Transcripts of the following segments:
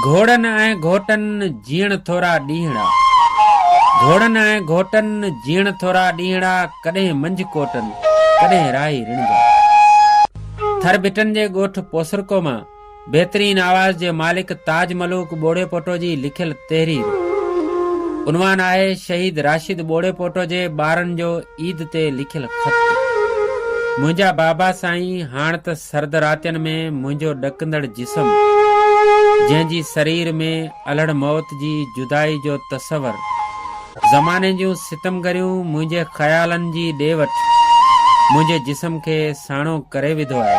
گهوڙن ۽ گهوٽن جيئڻ ٿورا ڏينهڙا. گهوڙن ۽ گهوٽن جيئڻ ٿورا ڏينهڙا ڪڏهن منجهه ڪوٽن ڪڏهن راهي رڻجا. ٿر ڀٽن جي ڳوٺ پوسرڪو مان بهترين آواز جي مالڪ تاج ملوڪ ٻوڙيپوٽو جي لکيل تحرير عنوان آهي شهيد راشد ٻوڙيپوٽو جي ٻارن جو عيد تي لکيل خط منهنجا بابا سائين هاڻ ته سرد راتين ۾ منهنجو ڏڪندڙ جسم جنهن جي سرير ۾ الهڙ موت جي جدائي جو تصور زماني جون ستمگريون منهنجي خيالن جي ڏي وٺ منهنجي جسم کي ساڻو ڪري وڌو آهي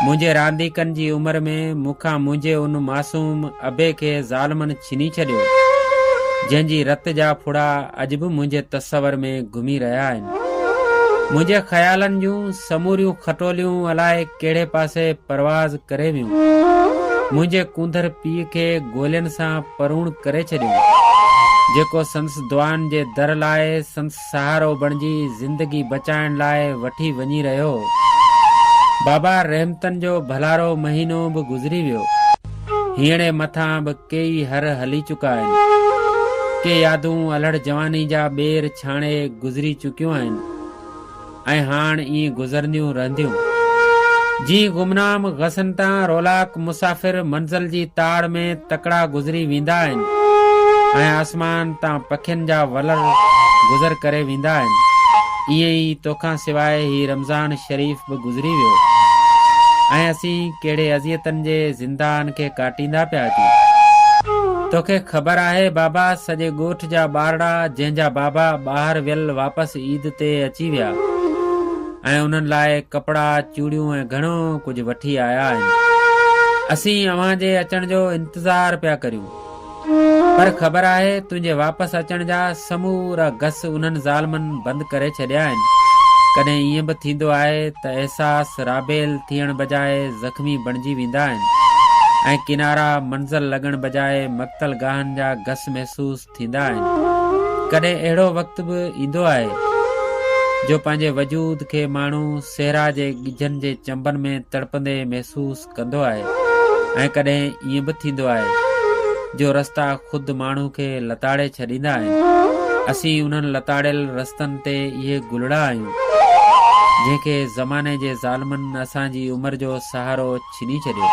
منهنجي رانديڪن جي عمر ۾ مون کان منهنجي ان معصوم ابي کي ظالمن ڇني ڇڏيو جنهن جي رت جا ڦڙا اڄ به منهنجي تصور ۾ گهمي رهيا آهن. منهنجي خيالن جون سموريون کٽوليون الائي ڪهڙي پاسي پرواز ڪري ويون. منهنجي ڪونڌر پيء کي گولين سان پروڻ ڪري ڇڏيو، جيڪو سندس دعائن جي در لاء سندس سهارو بڻجي زندگي بچائڻ لاء وٺي وڃي رهيو هو. بابا رحمتن جو ڀلارو مهينو به گذري ويو. هينئڙي مٿان به ڪيئي هر هلي چڪا آهن. ڪي يادون الهڙ جواني جا ٻير ڇاڻي گذري چڪيون آهن ۽ هاڻ ائين گذرنديون رهنديون. جيئن گمنام غصن تان رولاڪ مسافر منزل جي تاڙ ۾ تڪڙا گذري ويندا آهن ۽ آسمان تان پکين جا ولر گذر ڪري ويندا آهن، ائين ئي توکان سواء هي رمضان شريف به گذري ويو ۽ اسين ڪهڙي اذيتن جي زندان کي ڪاٽيندا پيا اچون. توکي خبر آهي بابا سڄي ڳوٺ جا ٻارڙا جنهن جا بابا ٻاهر ويل واپس عيد تي اچي ويا ۽ انهن لاء ڪپڙا، چوڙيون ۽ گهڻو ڪجهه وٺي آيا آهن. اسين اوهان جي اچڻ جو انتظار پيا ڪريون. پر خبر آهي تنهنجي واپس اچڻ جا سمورا گس انهن ظالمن بند ڪري ڇڏيا آهن. ڪڏهن ائين به ٿيندو آهي ته احساس رابيل ٿيڻ بجاء زخمي بڻجي ويندا آهن ۽ ڪنارا منزل لڳڻ بجاء مقتل گاهن جا گس محسوس ٿيندا آهن. ڪڏهن اهڙو وقت به ايندو آهي جو پنهنجي وجود کي ماڻهو صحرا جي ڳجهن جي چنبن ۾ تڙپندي محسوس ڪندو آهي ۽ ڪڏهن ائين به ٿيندو آهي جو رستا خود ماڻهو کي لتاڙي ڇڏيندا آهن اسين انهن لتاڙيل رستن تي اهي گلڙا آهيون جنهن کي زماني جي ظالمن اسان جي عمر جو سهارو ڇني ڇڏيو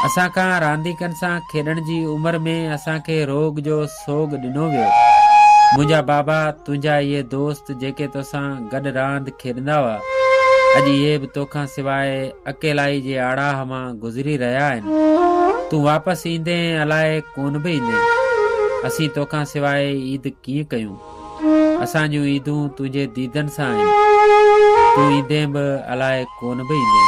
اسان کان رانديڪن سان کيڏڻ جي عمر ۾ اسان کي روڳ جو سوڳ ڏنو ويو. منهنجا بابا، تنهنجا اهي دوست جيڪي توسان گڏ راند کيڏندا هئا، اڄ اهي به توکان سواء اڪيلائي جي آڙاهه مان گذري رهيا آهن. تون واپس ايندين ۽ الاء ڪونه به ايندين. اسين توکان سواء عيد ڪيئن ڪيون؟ اسان جون عيدون تنهنجي ديدن سان آهن. تون ايندين به الاء ڪونه به ايندين.